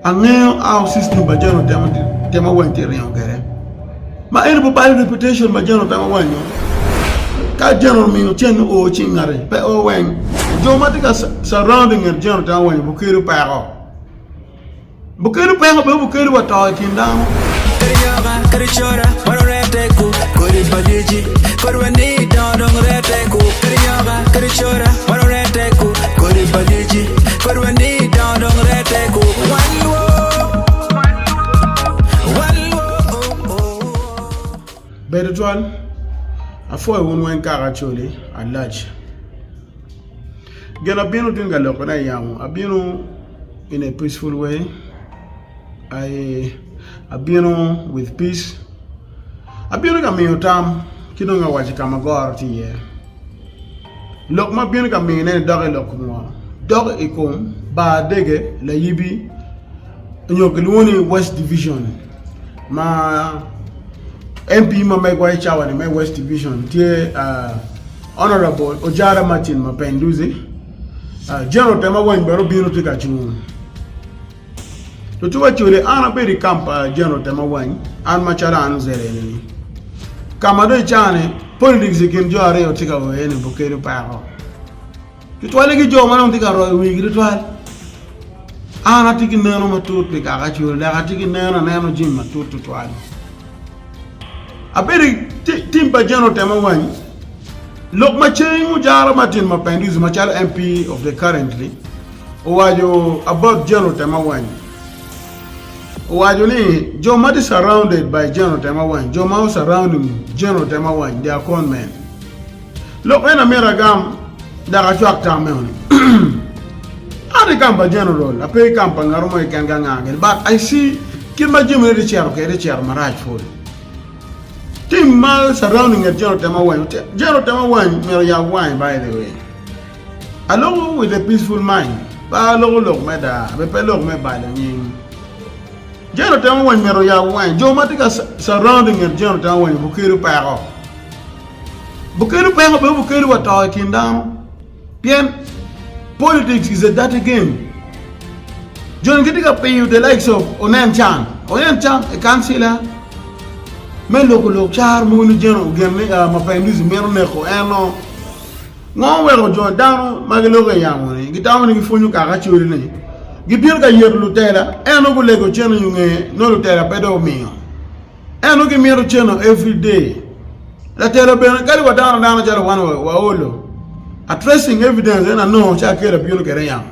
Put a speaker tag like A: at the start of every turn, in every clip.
A: Angeyo our system pa jami otemo temo weng tye ringo kwede ma eno pe balo reputation ma jami otemo weng nyo ka jami omiyo cen o cing ngati pe o weng jo ma tye ka surrounding nget jami otemo weng bi kelo peko bukelo peko bene bukelo wa to i kin dano.
B: Kadi cora
A: man orete ku Kodi pa lyeci Kodi wa ni dongo dong rete ku Wan lwo Wan lwo oh, oh. Bedo twal, apwoyo wun weng kaka Acholi alac. Gin abino tin ka loko na yamo abino in a peaceful way, I abino with peace. Abino ka miyo tam, ci dong awaco ka ma goro tye iye. Lok ma abino ka miyone-ni dok i lok ngo? Dok i kom bar dege layibi nyo kilwongo ni West Division ma MP ma megwa i cawa-ni me West Division tye uh, Honorable Ojara Martin Mapenduzi. Uh, General Temawany bene obino tye ka cung. Lucuwa cwale an abedo i kam pa General Temawany, an macalo an Luzira enini. Ka ma dong icane, politics i kin jo aryo tye ka weo iye ni Bukele opeko. Tutwalle ki jo ma dong tye ka royo wigi tutwal. An atye ki neno matut pi kaka cwale dok atye ki neno aneno jami matut tutwal. Abedo i ti- tim pa General Temawany, lok ma ceng ojara Martin Mapinduzi macalo MP of the currently, Owaco about General Temawany, owaco ni jo ma tye surrounded by General Temawany, jo ma o surrounding General Temawany, they are con men. Lok meno amito agam dok acwak tam meno ni an i kam pa General, ape i kam pa ngato mo keken ka nga kene, but I see kit ma jami ne tye cito kede tye cito marac pol. Team ma surrounding nget General Temawany, General Temawany myero oyab wange by the way. Alongo with a peaceful mind pa aloko lok me daa be pe lok me balo nying. Jane otemo weny mito yabo wange jo ma tye ka surrounding nget Jane otemo weny obukelu peko. Bukelu peko be obukelu wa to i kin dano pien politics is a dirty game. Jane gitye ka piyo the likes of onen can onen can e kancila me loko lok car mogo ni Jane ogenne uh, Mapinduzi mito neko eno Ngo weko jo dano ma giloko i yamo-ni gitamo ni gipwonyo kaka codi-ni gibino ka Yecu lutela eno gulego cene i onge nongo lutela pe dong omiyo eno gimito cene every day latela bene kadi wa dano adana calo wan wa olo a tracing evidence eno anongo ca kelo bino kede yamo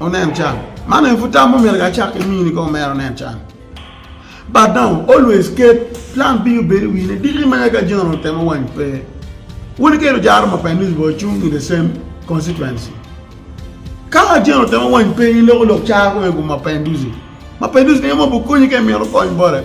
A: onen can man aye pud tam omyero acak ki mini kong mere onen can but dong always ket plan B obed i wine diki ma ka general otemo wany pe wun iketo jaro ma pa Elizabeth ocung in the same constituency ka general otemo wany pe in loko lok car kong i kom ma pa Induzi ma pa Induzi ni ema obukonyi ka imito kony bote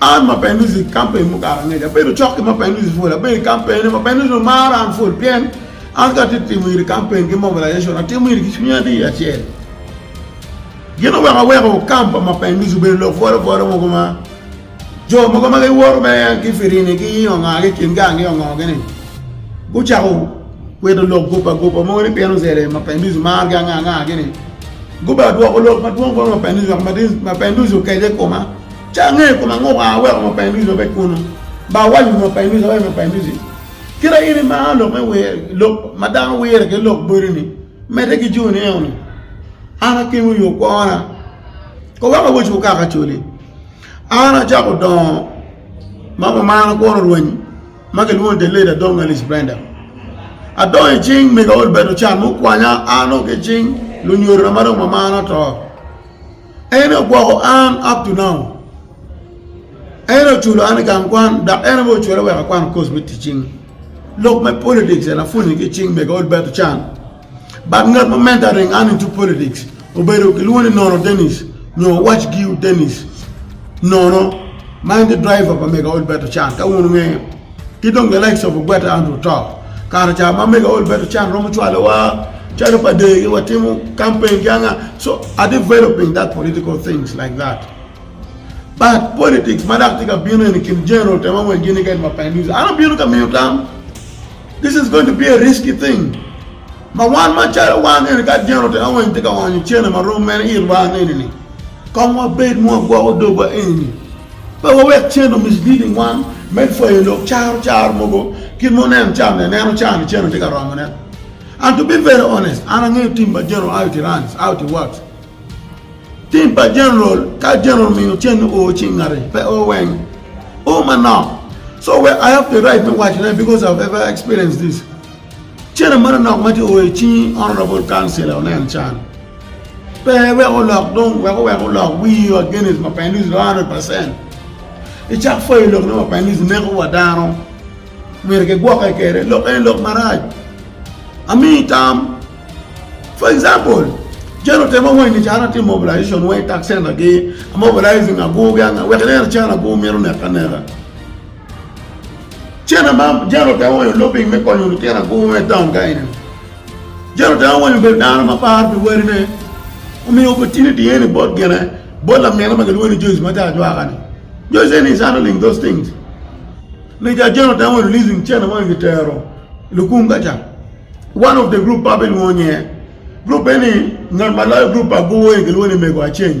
A: An ma Penusi, kampeni mukato angec abedo cok ki ma Penusi pol. Abedo i kampeni ma Penusi omaro an pol pien an ka atye timo iri kampeni ki mobilization, atimo iri ki cwiny adii acel. Gin oweko aweko kamp pa ma Penusi obedo lok bwolo bwolo mogo ma jo mogo ma giwoto me ki Firini ki Onganga i kingi ange ongogi ni gucako kwito lok gupa gupa mogo ni pien ozele ma Penusi margi anga anga gini guba dwoko lok madwong bot ma Penusi wek ma Penusi okece i koma. Ca angeyo koma ngo kong aweko ma painusi ma pe kunu ba awaco ma painusi awaco ma painusi kira in imaro lok me wir lok ma dano wire ki lok bodi ni mede ki joni eno ni an akim i yo kwona ko weko awaco kaka coli an acako dongo ma kumaro kuro rwenyi ma ki lwongo ni the late adong Alice Brenda adongo i cing mega Olbert Ochan mukwanya an nongo ki cing lunyorona ma dong mamana oto En ogwoko an up to now. En oculo an i gang kwan dok en aye ocula wek akwano kos me tic cing. Lok me politics en apwonye ki i cing mega old battle can. But ngat ma mentoring an into politics obedo kilwongo ni Nono Dennis nyo Watch Giu Dennis Nono ma en tye driver pa mega old battle can ka wun wungeyo. Ki dong bene Alex obigwete an oto. Kare ca ma mega Olbert Ochan romo cwalowa calo pa degi watimo campaign ki anga so I developing that political things like that but politics ma dok tye ka bino eni kin General Tema Weng ki Nigen Mapenduz an abino ka miyo tam this is going to be a risky thing. Ma wan macalo wan neni ka dyena otera wa nitye ka onyo cene ma rom mene itwa neni ni kong wabed ma wagwoko dogwa eni ni pe wawek cene o misleading wan me pwayo lok caro caro mogo kit ma oneno ca me aneno ca ni cene tye ka romo ne and to be very honest an angeyo team pa general out he runs out he works team pa general ka general omiyo cene o cing ngati pe o weng o manok so wek i have the right me waco ne because I have ever experienced this Cene ma nonok ma tye oyo icingi honorable councilor onen can pe wek olok dong wek owek olok wii wa against mapinduzi dong hundred percent icak pwoyo lok ne mapinduzi neko wa dano myero kigwoke kwede lok eni lok marac amiyi tam for example cen otemo weng ni cana atimo mobilization weng i tax center gi a mobilizing agur gi anga wek ineno cen agur mito neke aneka. Cene ma jalo te owanyo lopiny me konyo lutino agur me taun ka eni. Jalo te owanyo obedo dano ma paro pi wadine, omiyo opportunity eni bot gine, bot lamine ma kilwongo ni Joyce ma te ajwaka-ni. Joyce eni is handling those things. Meja Jalo te owanyo releasing cene ma onongo kitero i lukum ka ca. One of the group ma abinwongo nyinge, group eni ngat ma loyo group pa agur eni kilwongo ni Mego Aceng.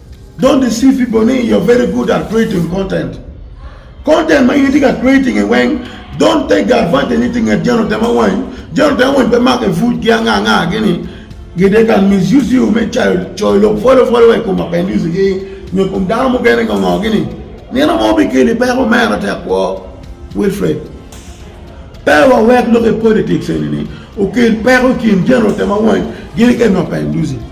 A: Don't deceive people ni you're very good at creating content. Content ma in itye ka creating e weng, don't take the advantage ni itye nget jeno tema wany, jeno tema wany pe make pud ki anga anga gi ni gi they can misuse you me cayo coyo lok pwolo pwolo wa i kom apendis gi nyo kom dano mukene ngo ngo gi ni nino mo bikeli peko mera tek kwo Wilfred pe wa wek lok i politics eni ni okel peko i kin jeno tema wany gi ni kene apendisi.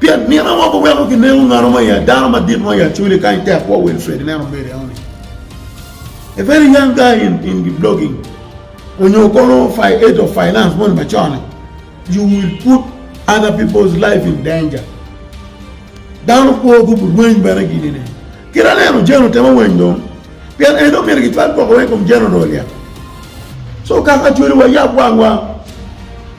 A: Pien nino mo guweko ginego nganu mo i ya dano madit mo i Acholi kany tek kwo Wilfred ineno media one a very young guy in in the blogging onyo kono fi age of finance moni macone you will put other people's life in danger dano kwo gubu rweny bene gini ne kira neno jeno temo weny dong pien en dong myero gicwal gwoko weny kom jeno dong olyet so kaka Acholi wayab wangwa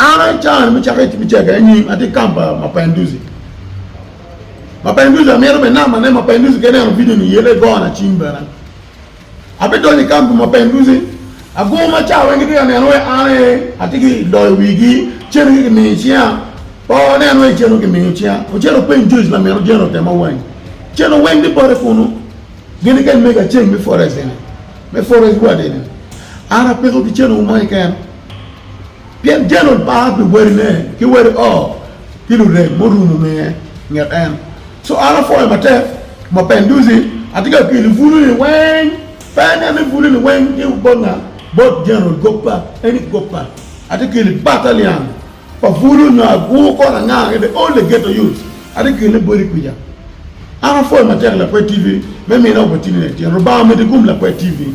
A: An acan me cako tic me cega anyim atye i kampa Mapinduzi. Mapinduzi amito bene namba ne Mapinduzi ka ineno video ni iye legona cim bene. Abidonyo i kampa Mapinduzi agur maca weng gitye ka neno wai an aye atye ki loyo wigi cene ki kimiyo icinga pe oneno wai cene kimiyo icinga ocito openy Joyce lamino Jane otema wai cene weng tye pote kunu gini kany mego aceng me forest eni me forest ward eni an apiko ki cene wu mo keken. Pien Jalon pa pi wadine ki wadi oo ki lurem murumo nge nget en. Co an apwoyo matek ma pen duci atye ka pyelo buluni weng. Pe inen ni buluni weng tye bot nga? Bot Jalon goppa, eni goppa. Atye keli batalian pa bulu nyo agur kor anga i the all the ghetto youths atye kelone bodi kwica. An apwoyo matek lakwed TV me mine opportunity tyen. Lubanga omeddi kum lakwed TV.